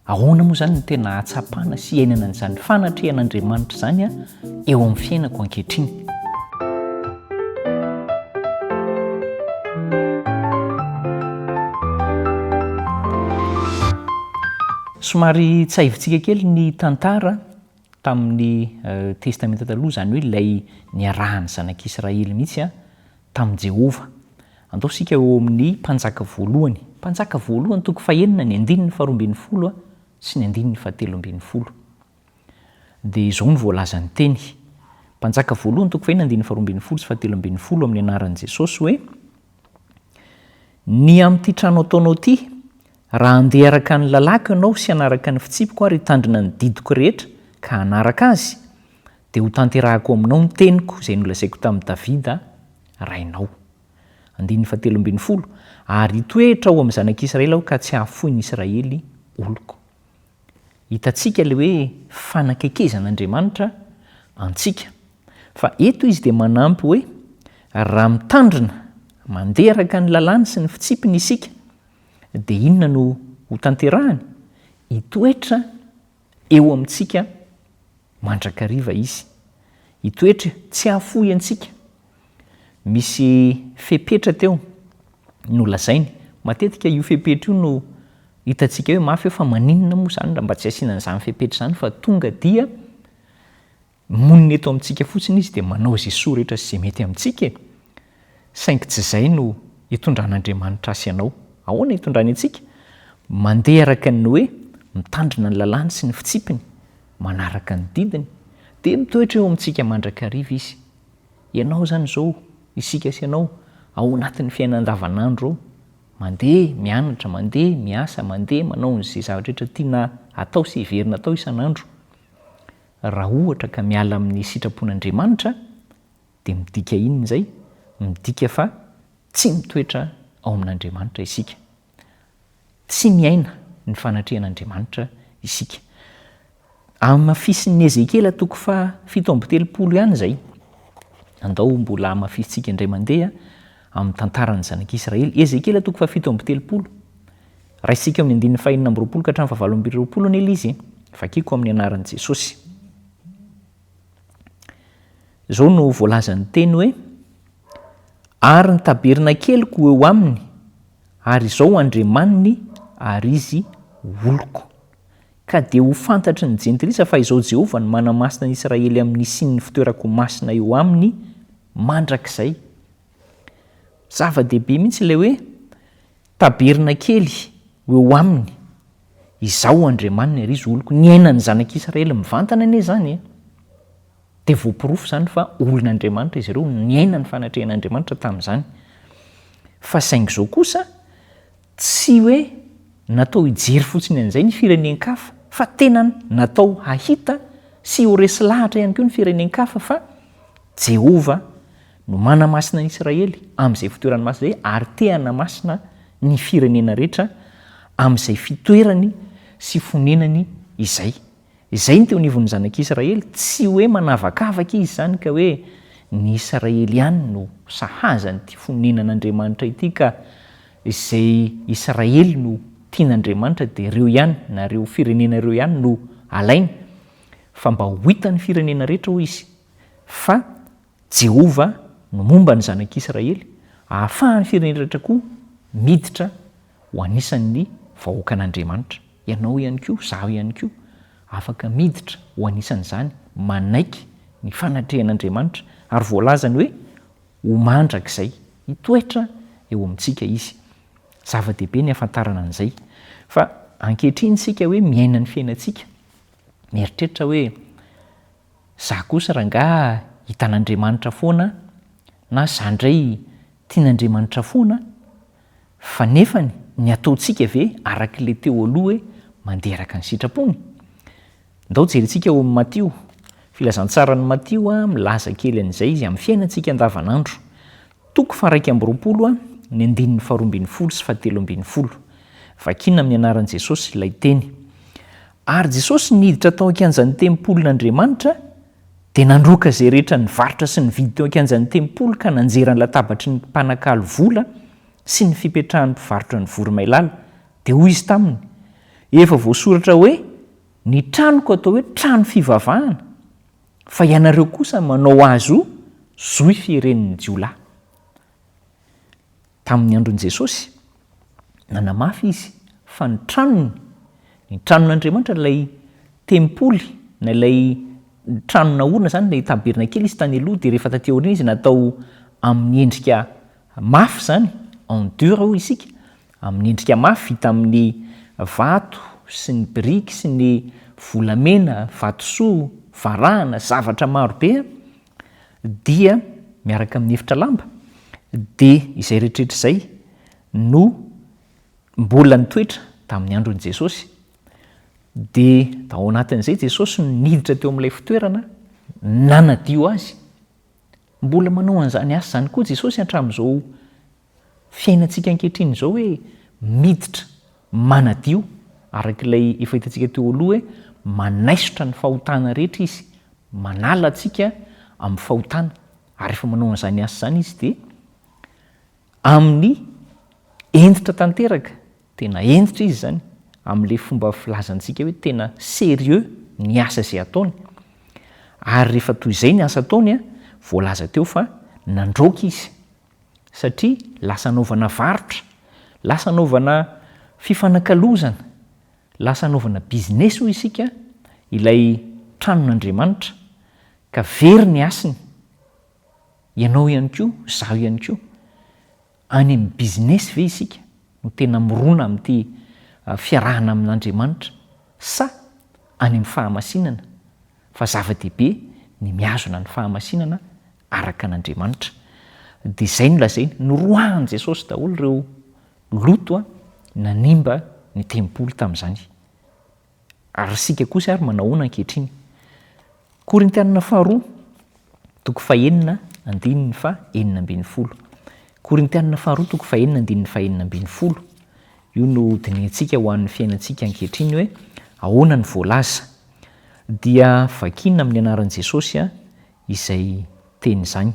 Ahoana moa izany no tena hahatsapana sy hiainana an'izany fanatrehan'Andriamanitra izany eo amin'ny fiainako ankehitriny? Somary tsiahivitsika kely ny tantara Tamin'ny Testamenta Taloha, izany hoe ilay niarahan'ny Zanak'Israely mihitsy tamin'i Jehovah. Andao isika eo amin'ny Mpanjaka Voalohany. Mpanjaka Voalohany, toko fahenina, ny andininy faharoa ambin'ny folo sy ny andininy fahatelo ambin'ny folo, dia izao no voalazan'ny teny. Mpanjaka Voalohany, toko fahenina, andininy faharoa ambin'ny folo sy fahatelo ambin'ny folo, amin'ny anaran'i Jesosy hoe, Ny amin'ity trano ataonao ity, Raha handeha araka ny lalàko ianao sy hanaraka ny fitsipiko ary hitandrina ny didiko rehetra ka hanaraka azy, dia hotanterahako aminao ny teniko izay nolazaiko tamin'i Davida rainao. Andininy fahatelo ambin'ny folo, Ary hitoetra ao amin'ny zanak'Israely aho ka tsy hahafoy ny Israely oloko. Hitantsika ilay hoe fanakekezan'Andriamanitra antsika. Fa eto izy dia manampy hoe, raha mitandrina, mandeha araka ny lalàny sy ny fitsipiny isika, dia inona no hotanterahany? Hitoetra eo amintsika mandrakariva izy. Hitoetra tsy hahafoy antsika. Misy fepetra teo nolazainy. Matetika io fepetra io no hitantsika hoe mafy eo fa maninona moa izany raha mba tsy asiana an'izany fepetra izany fa tonga dia Monina eto amintsika fotsiny Izy dia manao izay soa rehetra sy izay mety amintsika e! Saingy tsy izay no itondran'Andriamanitra ahy sy ianao. Ahoana itondrany antsika? Mandeha araka ny hoe mitandrina ny lalàny sy ny fitsipiny, manaraka ny didiny, dia mitoetra eo amintsika mandrakariva Izy. Ianao izany izao, isika sy ianao, ao anatin'ny fiainana andavanandro ao, mandeha mianatra, mandeha miasa, mandeha manao izay zavatra rehetra tiana atao sy heverina atao isan'andro. Raha ohatra ka miala amin'ny sitrapon'Andriamanitra, dia midika inona izay? Midika fa tsy mitoetra ao amin'Andriamanitra isika. Tsy miaina ny fanatrehan'Andriamanitra isika. Hamafisin'i Ezekiela toko fahafito amby telopolo ihany izay. Andao mbola hamafisintsika indray mandeha amin'ny tantaran'ny zanak'Israely. Ezekiela toko fahafito amby telopolo. Raisintsika amin'ny andininy fahenina amby roapolo ka hatramin'ny fahavalo amby roapolo anie ilay izy. Vakiko amin'ny anaran'i Jesosy. Izao no voalazan'ny teny hoe, Ary ny tabernakeliko ho eo aminy, ary izao Andriamaniny, ary izy oloko. Ka dia ho fantatry ny jentilisa fa izao Jehovah no manamasina ny Israely amin'ny hisian'ny fitoerako masina eo aminy mandrakizay. Zava-dehibe mihitsy ilay hoe Tabernakely ho eo aminy. Izaho Andriamaniny ary izy oloko. Niainan'ny Zanak'i Israely mivantana anie izany e! Dia voaporofo izany fa olon'Andriamanitra izy ireo, niaina ny fanatrehan'Andriamanitra tamin'izany. Fa saingy izao kosa, tsy hoe natao hijery fotsiny an'izay ny firenen-kafa, fa tena natao hahita sy ho resy lahatra ihany koa ny firenen-kafa fa Jehovah no manamasina an'i Israely amin'izay fitoerany masina izay ary te hanamasina ny firenena rehetra amin'izay fitoerany sy fonenany izay. Izay no teo anivon'ny zanak'i Israely, tsy hoe manavakavaka izy izany ka hoe ny Israely ihany no sahaza an'ity fonenan'Andriamanitra ity ka izay Israely no tian'Andriamanitra dia ireo ihany na ireo firenena ireo ihany no alainy fa mba ho hitan'ny firenena rehetra hoy izy fa Jehovah no momba ny zanak'Israely, ahafahan'ny firenena rehetra koa miditra ho anisan'ny vahoakan'Andriamanitra. Ianao ihany koa, izaho ihany koa, afaka miditra ho anisan'izany, manaiky ny fanatrehan'Andriamanitra, ary voalazany hoe ho mandrakizay. Hitoetra eo amintsika izy. Zava-dehibe ny hahafantarana an'izay. Fa ankehitriny isika hoe miaina ny fiainantsika, mieritreritra hoe, Za kosa rangaha hitan'Andriamanitra foana na za ndray tian'Andriamanitra foana fa nefany ny ataontsika ve arak'le teo aloha hoe mandeha araka ny sitrapony? Ndao jerintsika ao amin'ny Matio, filazantsaran'i Matio milaza kely an'izay izy amin'ny fiainantsika andavanandro. Toko faha-iraika amby roapolo a, ny andininy faharoa ambin'ny folo sy fahatelo ambin'ny folo. Vakina amin'ny anaran'i Jesosy ilay Teny. Ary Jesosy niditra tao an-kianjan'ny tempolin'Andriamanitra, dia nandroaka izay rehetra nivarotra sy nividy teo an-kianjan'ny tempoly ka nanjera ny latabatry ny mpanakalo vola sy ny fipetrahan'ny mpivarotra ny voromailala. Dia hoy Izy taminy, Efa voasoratra hoe, Ny tranoko atao hoe trano fivavahana. fa ianareo kosa manao azy ho zohy fieren'ny jiolahy. Tamin'ny andron'i Jesosy, nanamafy izy fa ny tranony, ny tranon'Andriamanitra, ilay tempoly na ilay trano naorina izany, ilay tabernakely izy tany aloha, dia rehefa taty aoriana izy natao amin'ny endrika mafy izany, en dur hoy isika, Amin'ny endrika mafy vita amin'ny vato sy ny biriky sy ny volamena, vatosoa, varahana, zavatra maro be, dia miaraka amin'ny efitra lamba, dia izay rehetrarehetra izay no mbola nitoetra tamin'ny andron'i Jesosy. Dia tao anatin'izay Jesosy no niditra teo amin'ilay fitoerana, nanadio azy. Mbola manao an'izany asa izany koa Jesosy hatramin'izao fiainantsika ankehitriny izao hoe miditra, manadio, araka ilay efa hitantsika teo aloha hoe manaisotra ny fahotana rehetra Izy, manala antsika amin'ny fahotana. Ary rehefa manao an'izany asa izany Izy dia amin'ny hentitra tanteraka, tena hentitra Izy izany, amin'ilay fomba filazantsika hoe tena sérieux ny asa izay ataony. Ary rehefa toy izay ny asa ataony, voalaza teo fa nandraoka Izy. satria lasa anaovana varotra, lasa anaovana fifanakalozana, lasa anaovana business hoy isika ilay tranon'Andriamanitra ka very ny hasiny, ianao ihany koa, izaho ihany koa, any amin'ny business ve isika no tena mirona amin'ity fiarahana amin'Andriamanitra sa any amin'ny fahamasinana Fa zava-dehibe ny mihazona ny fahamasinana araka an' Andriamanitra. Dia izay no lazainy, noroahan'i Jesosy daholo ireo loto nanimba ny tempoly tamin'izany. Ary isika kosa ary manahoana ankehitriny? Korintianina faharoa. Toko fahenina andininy faha enina ambin'ny folo. Korintianina faharoa toko fahenina andininy faha enina ambin'ny folo. Io no dinihintsika ho an'ny fiainantsika ankehitriny hoe ahoana ny voalaza. Dia vakina amin'ny anaran'i Jesosy aho izay teny izany.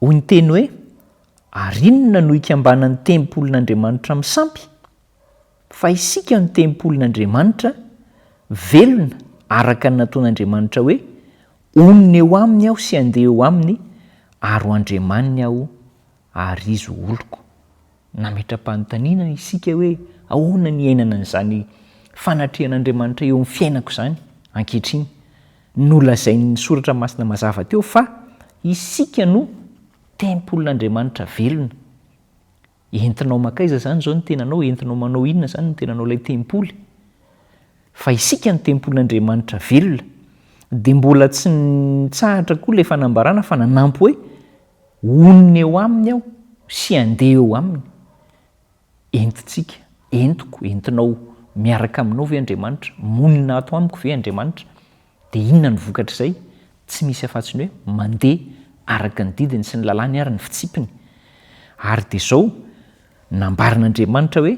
Hoy ny teny hoe, Ary inona no ikambanan'ny tempolin'Andriamanitra amin'ny sampy? Fa isika no tempolin'Andriamanitra, velona araka ny nataon'Andriamanitra hoe, Honina eo aminy aho sy handeha eo aminy, ary ho Andriamaniny aho, ary izy ho oloko. Nametra-panontaniana isika hoe ahoana ny iainana an'izany fanatrehan'Andriamanitra eo amin'ny fiainako izany ankehitriny. Nolazain'ny Soratra Masina mazava teo fa isika no tempolin'Andriamanitra velona. Entinao makaiza zany zao ny tenanao? Entinao manao inona zany ny tenanao ilay tempoly? Fa isika ny tempolin'Andriamanitra velona. Dia mbola tsy nitsahatra koa ilay fanambarana fa nanampy hoe, Honina eo aminy aho sy handeha eo aminy. Entintsika, entiko, entinao miaraka aminao ve Andriamanitra? Monina ato amiko ve Andriamanitra? Dia inona no vokatr'izay? Tsy misy afa-tsy ny hoe mandeha araka ny didiny sy ny lalàny ary ny fitsipiny. Ary dia izao, nambaran'Andriamanitra hoe,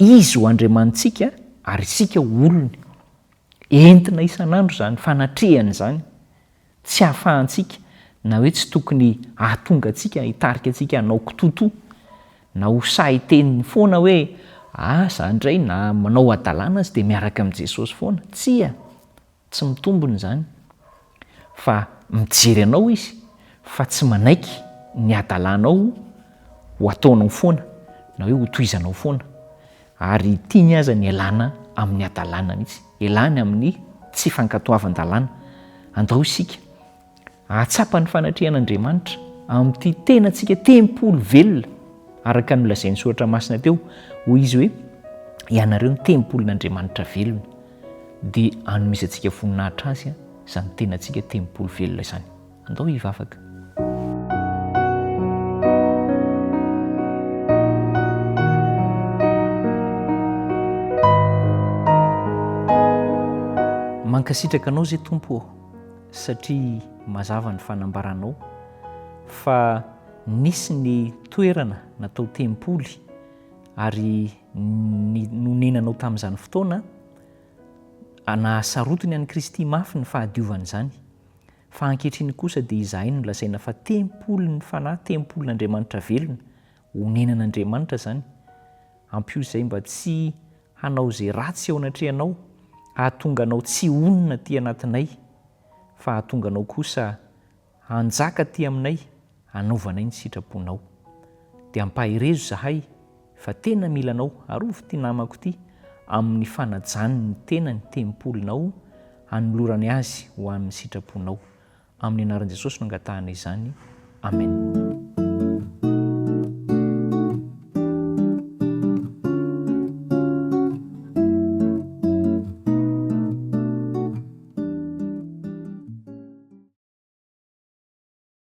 Izy ho Andriamanitsika ary isika ho olony. Entina isan'andro izany fanatrehana izany. Tsy ahafahantsika na hoe tsy tokony hahatonga antsika hitarika antsika hanao kitoto na ho sahy hiteny foana hoe, Ah, izaho indray na manao hadalana aza dia miaraka amin'i Jesosy foana. Tsia, tsy mitombina izany. Fa mijery anao Izy fa tsy manaiky ny hadalanao ho ataonao foana na hoe hotohizanao foana. Ary tiany aza ny hialana amin'ny hadalana mihitsy, hialany amin'ny tsy fankatoavan-dalàna. Andao isika hahatsapa ny fanatrehan'Andriamanitra amin'ity tenantsika tempoly velona, araka ny nolazain'ny soratra masina teo, hoy izy hoe, Ianareo no tempolin'Andriamanitra velona. Dia hanomezantsika voninahitra azy izany tenantsika tempoly velona izany. Andao hivavaka. Mankasitraka anao zay Tompo ô, satria mazava ny fanambaranao fa nisy ny toerana natao tempoly ary ny nonenanao tamin'izany fotoana, nahasarotiny an'i Kristy mafy ny fahadiovany izany. Fa ankehitriny kosa dia izahay no lazaina fa tempolin'ny Fanahy, tempolin'Andriamanitra velona, onenan'Andriamanitra izany. Ampio izay mba tsy hanao izay ratsy eo anatrehanao, hahatonga anao tsy honina aty anatinay, fa hahatonga anao kosa hanjaka aty aminay hanaovanay ny sitraponao. Dia ampaherezo izahay fa tena mila anao, arovy ity namako ity amin'ny fanajany ny tenany tempolinao hanolorany azy ho an'ny sitraponao. Amin'ny anaran'i Jesosy no angatahana izany. Amen.